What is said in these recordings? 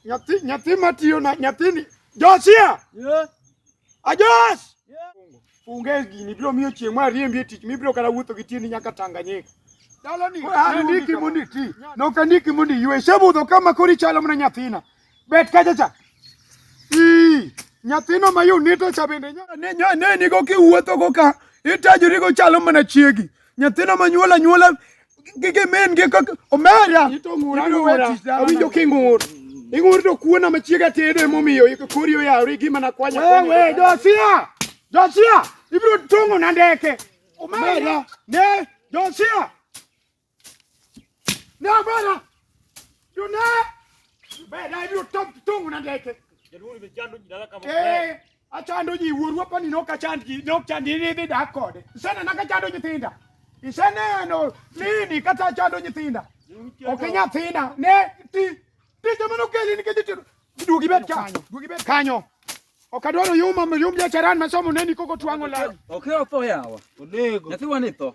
Nyathi nyathi matiyo na nyathini Josia. Yeah. Ajos. Yeah. Funge gini biro miyo chieng' ma riembi e tich mibiro kata wuotho gi tieni nyaka Tanganyika. Dalani. Andiki mondo iti. Nok andiki mondo iywe. Sebudho kama koro ichalo mana nyathina. Bet kacha cha. Ii. Nyathino ma yunito cha bende nyaka ne ne nigo kiwuotho go ka itajori go chalo mana chiegi. Nyathina manyuol anyuola gige men gi kaka omera. Awinjo king'ur. Ing'ur to kuona machiega tedo emomiyo kori oyawri gima nakwanya. Wewe Josia. Josia ibiro tong'o na ndeke. Omera. Ne Josia. Ne omera. Jona. Beda ibiro tong'o na ndeke. Jaduong' ni chando jina kama. Eh. Achando ji wuoru apani ne ok achand ji, ne ok chand ji idhi dak kode. Iseneno ka achando nyithinda. Iseneno nini kata achando nyithinda. Ok nyathina ne ti tije mane okeli nikech itero. Duogi bet ka. Duogi bet kanyo. Ok adwar oyuma oyum jacharan masomo neni koko twang'o lawi. Ok otho yawa. Onego. Nyathiwa ni tho.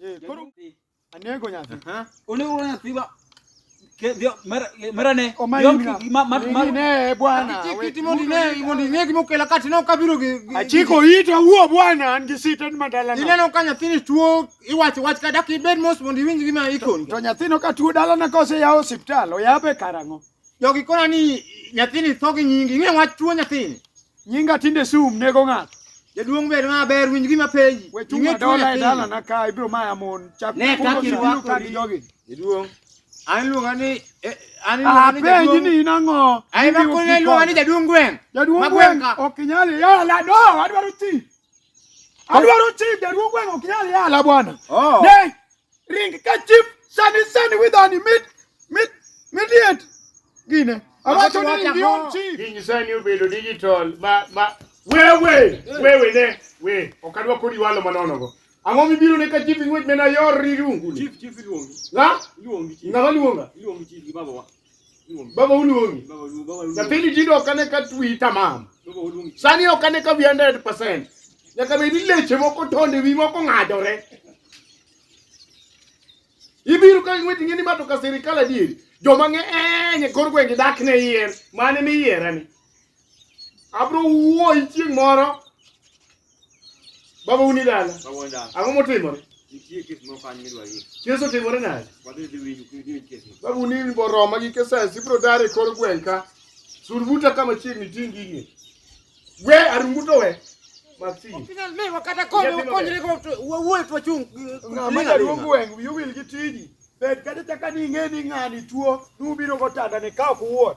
Eh, koro anego nyathi. Onego nyathi ba merane omanyine bwana kiti mondi ne mondi ne gimo kela kati no kabiro gi achiko ita wuo bwana an gi sita ni madala no ineno ka nyathini tuo iwacho wach kada ki bed mos mondi winj gima ikon to nyathino ka tuo dala na kose yawo hospital oyabe karango Jogi kona ni nyathini tho gi nyingi, ing'e wach tuo nyathini. Nyinga tinde sum nego ng'ato. Jaduong' bed ma ber winj gima penji. We chunga dola e dala na ka ibiro maya mon. Chak ne ka kirwa ka gi jogi. Jaduong'. An luonga ni eh, an luonga ni jaduong'. Apenji ni in ang'o? Ai ma kone luonga ni jaduong' gweng'. Jaduong' gweng' ok nyali. Ya la do adwaro ti. Adwaro ti jaduong' gweng' ok nyali ya la bwana. Oh. Ne ring ka chief sani sani widhoni mit mit midiet gine awacho ni ring yon chief Kiny sani obedo digital ma ma wewe wewe ne we ok adwa kodi walo manono go. Ang'o mibiro ne ka chief ng'wech mena yor rirungu ni? Chief, chief iluongi. La? Iluongi chief. Ng'ama luonga? Iluongi chief gi babawa. Baba uluongi. Nyathini tinde ok ane ka twi tamam. Sani ok ane ka wi 100%. Nyaka bed ni leche moko tonde wi moko ng'adore. Ibiro ka ing'we ting'e ni ma to ka sirikal adieri. Joma ng'eny e kor gwenge dak ne yier. Mane ni yierani. Abro wuoyi chieng' moro Baba uni dala. Baba dala. Ang'o motimore? Nitie kes moro kanyo midwa yie. Kes otimore nade? Wadhi dhi winjo kidhi winjo kes. Baba uni ni boroma gi keses ibro dare kor gweng' ka. Surbuta kama chiegni ting' gigi. We arumbuto we. Mati. Opinal me wakata kome wakonyre go wawuoyo to wachung'. Ng'ama jaduong' gweng' wiyo wil gi tiji. Bed kata chaka ni ing'e ni ng'ani tuo nubiro go tanda ni ka ok uwuon.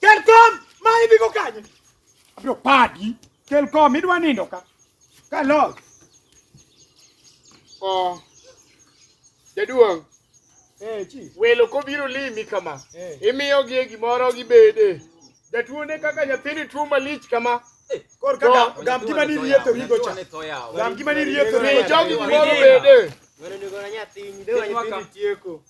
Kelkom, ma idhi go kanye? Abiro padi. Kelkom, idwa nindo ka. Ka log. Oh. Jaduong', Eh, chi. welo kobiro limi kama, Eh. imiyogi e gimoro gibede. Jatuo ne kaka nyathini tuo malich kama. Kor ka gam- gam gima ni rietho rigo cha. Gam gima ni rietho Mi rigo cha. jogi gimoro bede.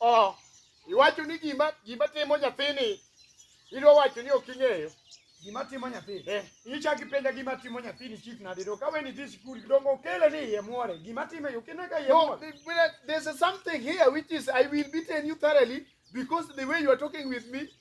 Oh, iwacho ni gima gima timo nyathini idwa wacho ni ok ing'eyo. Gima timo nyathi. Eh. Ichaki penja gima timo nyathi ni chief na dedo. Kawe ni this school dongo kele ni ye muore. Gima timo yo kene ka ye muore. No, there's something here which is I will beaten you thoroughly because the way you are talking with me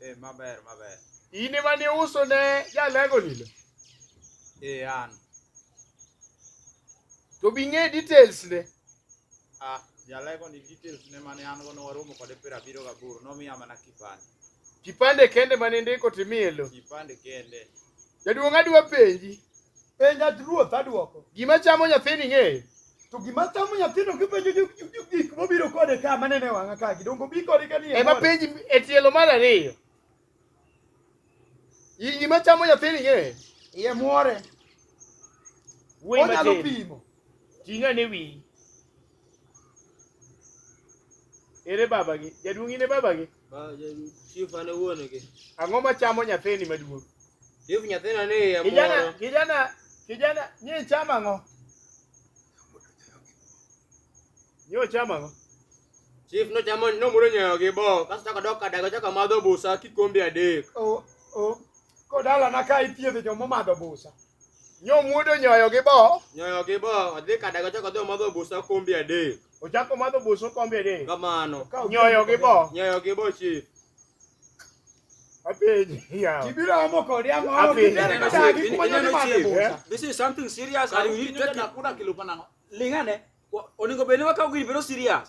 Eh, maber maber. In ema ne uso ne jalego nilo. Eh, an. To bi ng'e details ne. Ah, jalego ni details ne mane an go ne waromo kode piero abiro gaboro nomiya mana kipande. Kipande kende mane ndiko timiye lo. Kipande kende. Jaduong' adwa penji. Penja ruoth adwoko. Gima chamo nyathini ng'eyo. To gima chamo nyathino kipenjo gik mobiro kode ka manene wang'a ka gidongo bi kode ka ni. Ema penji e tielo mar ariyo. Iyi gima chamo nyathini ye. Ye muore. Wuoyi matin. Onyalo pimo. Ting'a ne wiyi. Ere babagi? Jaduong' in e babagi? Chief ane wuon gi. Ang'o ma chamo nyathini maduong'? Chief nyathina ni ya Kijana, moro. kijana, kijana, nyi chama ng'o? Nyi ochama ng'o? Chief no chamo no muro nyayo gi bo. Kasto chako dok kadago chako madho busa kikombe adek. O, o, Kodalana ka ithiedho joma omadho busa. Nyomuodo nyoyo gi bo. Nyoyo gi bo. Odhi kada gochako dhi omadho busa kombi adek. Ochako omadho busa kombi adek. Kamano. Nyoyo gi bo. Nyoyo gi bo chief. This is something serious and we need to take it. Lingane, oningo bende wakaw gini bedo serious.